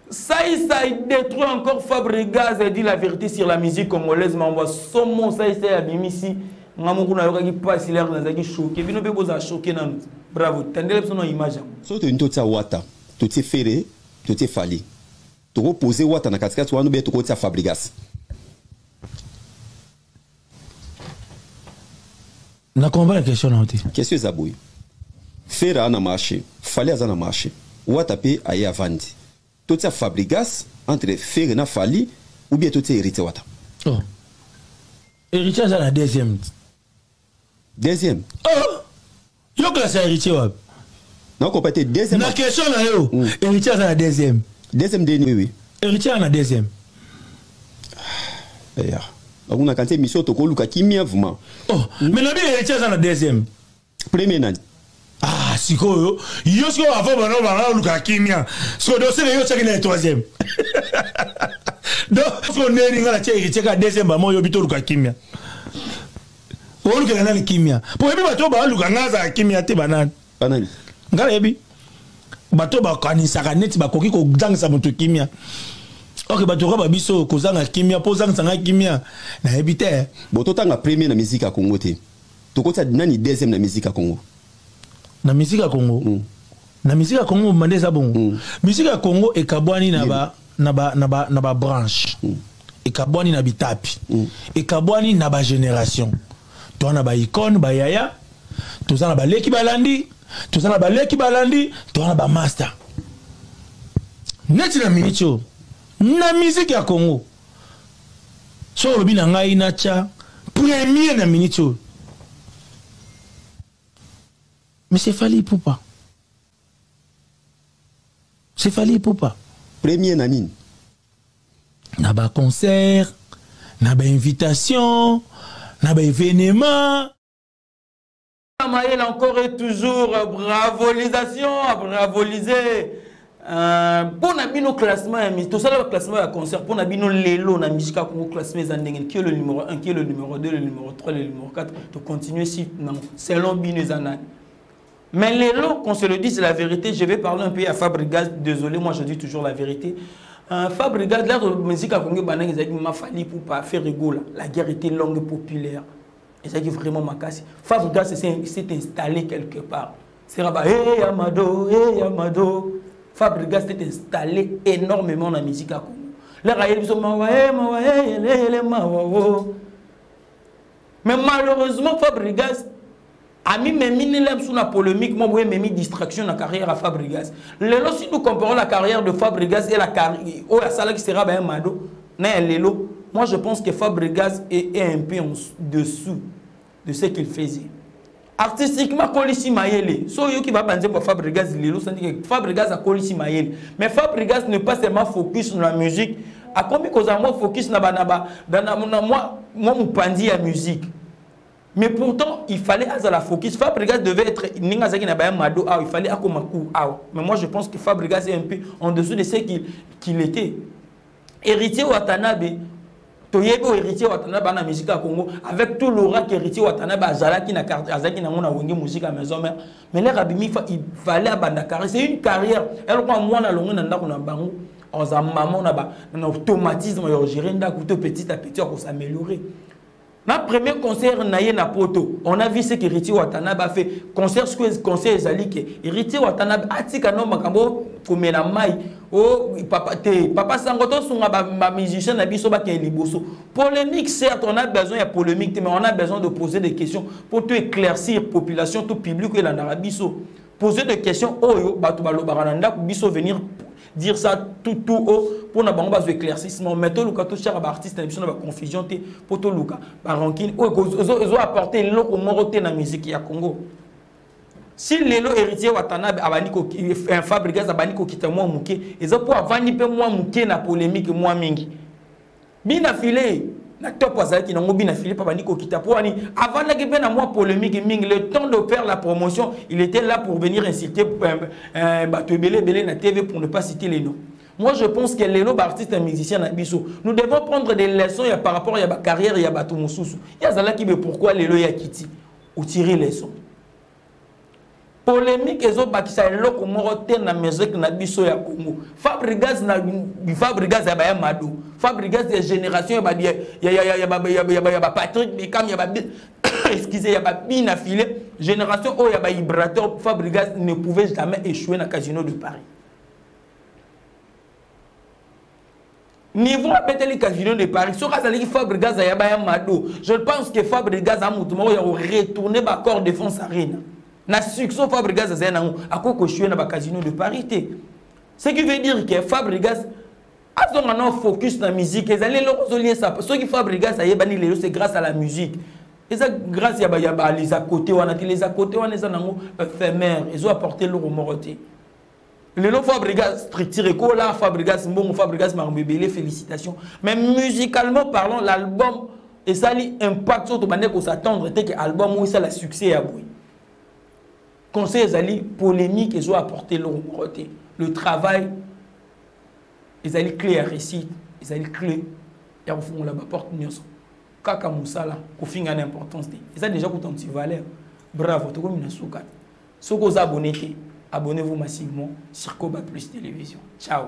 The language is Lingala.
Saïsa il détruit encore Fabregas a dit la vérité sur la musique congolaise mais on voit somo Saïsa ya bimisi nga moko nayokaki mpasi lere nazalaki choke bino mpe bozala choke nanu bravo tandela biso na image yango soki tolingi totia wata totie fere totie fali tokopose wata na katikati wana obe tokotia fabrigas na comprendre question na yo te question eza boye fera na marché fali aza na marché wata mpe aye avandi totia fabrigas entre fere na fali ou bien totia hérité wata oh. hérité aza na deuxième deuxième oh. yo classe ya héritier wapi nakopa te deuxième na question na yo mm. héritier aza na deuxième deuxième deni oui, oui. héritier na deuxième ah, eya bakuna kanti émission tokoluka kimia vraiment oh mm. mais na bi héritier aza na deuxième premier nani ah sikoyo yo sikoyo avant bana bana oluka kimia sikoyo dosele yo otyaki na ye troisième donc sikoyo ndenge ninga na tie héritier ka deuxième bama oyobi toluka kimia olukela nani kimia mpo oyebi bato oyo baluka ngai azala kimia te banani banani ngai nayebi bato oyo bakanisaka neti bakoki kozangisa moto kimia ok bato kaka babiso kozanga kimia mpo ozangisa ngai kimia nayebi te bo totanga premier na miziki ya kongo te tokotisa nani deuxième na miziki ya kongo na miziki ya kongo mm. na musique ya congo mobanda eza bongo mm. musique ya congo ekabwani na ba na ba na ba na ba branche mm. ekabwani na bitapi mm. ekabwani na ba génération toza na ba icone ba yaya toza na baleki balandi toza na baleki balandi toza na ba master neti na miniti oyo na musique ya congo soki olobi na ngai natya premier na miniti oyo Mais c'est Fally Ipupa. C'est Fally Ipupa. Premier na nini? Na ba concert, na ba invitation, na ba événement. Maël encore et toujours bravolisation, bravolisé. Euh, mpo na bino classement ya misi tosala baclassement ya concert mpo na bino lelo na misika kongo classement eza ndenge qui est le numéro 1 qui est le numéro 2 le numéro 3 le numéro 4 tocontinue si nango selon bino eza nani mais lelo qu'on se le dise la vérité je vais parler un peu ya fabrigas désolé moi je dis toujours la vérité euh, fabrigas lero musique ya kongo ebandaki ezalaki mafali pupa ferigola la guerre était longue populaire ezalaki vraiment makasi fabrigas s'est installé quelque part sera ba hey amado hey amado fabrigas est installé énormément na musique ya congo laka ayebi biso mawa he mawa he yeleyele mawa o mais malheureusement fabrigas amimemi nela biso na polémique moko boye ememi distraction na carrière ya fabrigas lelo si nous comparons la carrière de fabrigas et la oyo asalaki sera ba ya mado na ya lelo moi je pense que fabrigas est, est un peu en dessous de ce qu'il faisait artistiquement akolisi mayele so oyoki baba nzembo ya fabrigas lelo sandike fabrigas akolisi mayele mais fabrigas ne pas seulement focus na musique akomi kozala mwa focus na banaba na mwa mopanzi ya musique mais pourtant il fallait azala focus fabrigas devait être ndenge azalaki na baya mado awa il fallait akoma cour awa mais moi je pense que fabrigas est un peu en dessous de ce qu'il qu était Héritier Watanabe toyebi oyo héritier watanabe bana musique ya congo avec tout l'aura que héritier watanabe azalaki na azalaki nango na wenge musique ya maison mère mais lere abimi fa il fallait abanda carrière c'est une carrière elokwa mwana alongwe na ndako na bango aza mama na ba na automatisme ya ogere ndako to petit à petit akosaméliorer na premier concert na ye na poto on a vu ce que héritier watanabe a fait concert ce que concert ezali ke héritier watanabe atika no makambo komela mai o oh, papa te papa sango tosunga bamusicien na biso bakende liboso polémique certes on a besoin ya polémique te mais on a besoin de poser des questions mpo to éclaircir population to public oyo elandaka biso poser des questions oyo bato balobaka na ndako biso venir dire ça tout tout haut mpo na bango bazwa éclaircissement mais toluka totyaka baartiste na biso na baconfusion te mpo toluka barankine oyo ezo apporte eloko moko te na miziki ya congo si lelo héritier watanabe abandi euh, fabrigas abandi kokita mwa moke eza mpo avandi mpe mwa moke na polémique mwa mingi bina filet na top azalaki nango bina philippe abandi kokita mpo wani avandaki mpe na mwa polémique mingi le temps de faire la promotion il était là pour venir insulter euh, euh, bato ebele ebele na tv pour ne pas citer les noms moi je pense que lelo baartiste ya musicien na biso nous devons prendre des leçons ya par rapport ya bacarrière ya bato mosusu ye azalaki be pourquoi lelo ya kiti otire leçon polemique ezobakisa eloko moko te na musique na biso ya congo fabrigas na fabrigas ya baya mado fabrigas ya génération ya bapatrick bekam ya ba excusez ya babina file génération oyo ya bahibrateur fabrigas ne pouvait jamais échouer na casino de paris niveau abeteli casino de paris soki azalaki fabrigas ayaba ya mado je pense que fabrigas a moto moko ya koretourne bacor défense arena na succès fabrigas azali nango akoki koshue na bacasino de paris te ce qui veut dire que fabrigas azonga nao focus na musique ezali eloko ozoliesa soki fabrigas ayebani lelo c'est grâce à la musique eza grâce ya les à côté wana te les à côté wana eza nango éphémère ezo apporte eloko moko te lelo fabrigas structure ekola fabrigas mbongo fabrigas makambo ebele félicitation mais musicalement parlant l'album esali impact oyo tobandaki kosattendre te ke album oyo esala succès ya boye conseil ezali polémique ezo apporte eloko moko te le travail ezali clé ya réussite ezali clé ya kofungola baporte nyonso kaka mosala kofinga na importance te eza déjà kuta ntivaleur bravo tokomi na suka soki oza abonne te abonnez vous massivement sur koba plus television ciao